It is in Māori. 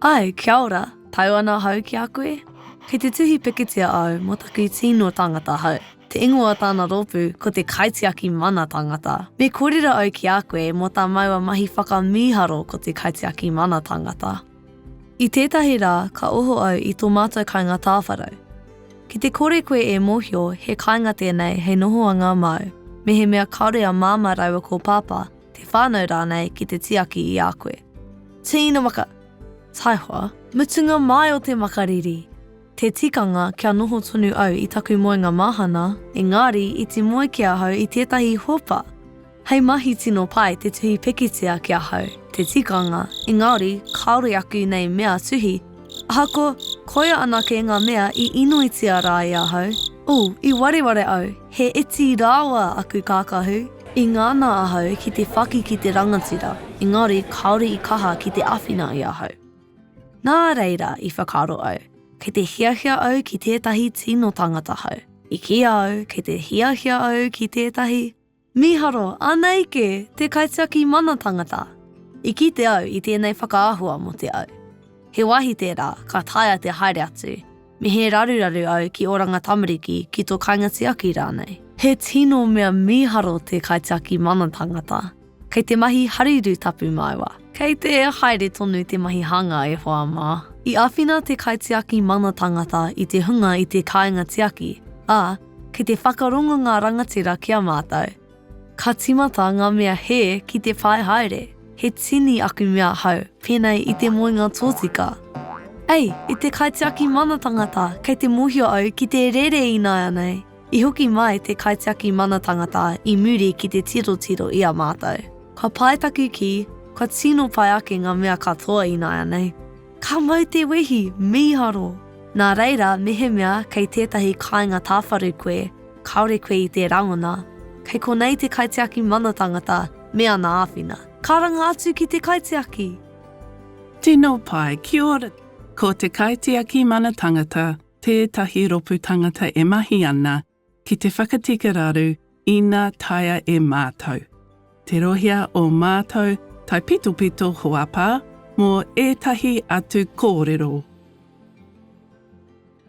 Ae, kia ora, tau ana hau ki a koe? Kei te tuhi pikitia au mo taku tino tangata hau. Te ingoa o tana ropu ko te Kaitiaki Mana Tangata. Me korero au ki a koe mo ta maua mahi whakamiharo ko te Kaitiaki Mana Tangata. I tētahi rā ka oho au i tō mātou kāinga tāwharau. Ki te kore koe e mōhio he kāinga tēnei hei nohoanga māu, mehemea kāore a Māmā rāua ko Pāpā, te whānau rānei ki te tiaki i a koe. Tīna maka, taihoa, mutunga mai o te makariri! Te tikanga kia noho tonu au i taku moenga māhana, engari iti moe ki ahau i tētahi hopa! Hei mahi tino pai te tuhi pikitia ki ahau te tikanga engari kāore aku nei mea tuhi ahakoa koia anake ngā mea i inoitia rā e ahau, oh i wareware au he iti rāua aku kākahu i ngana ahau ki te whaki ki te rangatira engari kāore i kaha ki te awhina i ahau. Nā reira i whakaaro au kei te hiahia au ki tētahi tino tangata hou, i kīa au kei te hiahia au ki tētahi, Mīharo, Anei kē, te kaitiaki mana tangata. I kite au i tēnei whakaahua mō te au. He wāhi tērā ka taea te haere atu, me he raruraru au ki Oranga Tamariki ki tō kāinga tiaki rānei. He tino mea mīharo te kaitiaki mana tangata. Kei te mahi harirū tapu māua. Kei te haere tonu te mahi hanga e hoa mā. I āwhina te kaitiaki mana tangata i te hunga i te kāinga tiaki, ā, Kei te whakarongo ngā rangatira ki a mātou. Ka tīmata ngā mea hē ki te pae haere. He tini aku mea ahau pēnei i te moenga tōtika. Ei, i te kaitiaki mana tangata kei te mōhio au ki te rere ināianei. I hoki mai te kaitiaki mana tangata i muri ki te tirotiro i a mātou. Ka pai taku kī, kua tino pai ake ngā mea katoa ināianei. Ka mau te wehi, mīharo! Nā reira, mehemea kei tētahi kāinga tāwharu koe, kāore koe i tē rangona, kei konei te kaitiaki mana tangata me ana āwhina. Karanga atu ki te kaitiaki! Tino pai, kia ora! Ko te kaitiaki mana tangata tētahi ropu tangata e mahi ana ki te whakatika raru ina taea e mātou. Tirohia ō mātou taipitopito hoapā mō ētahi atu kōrero.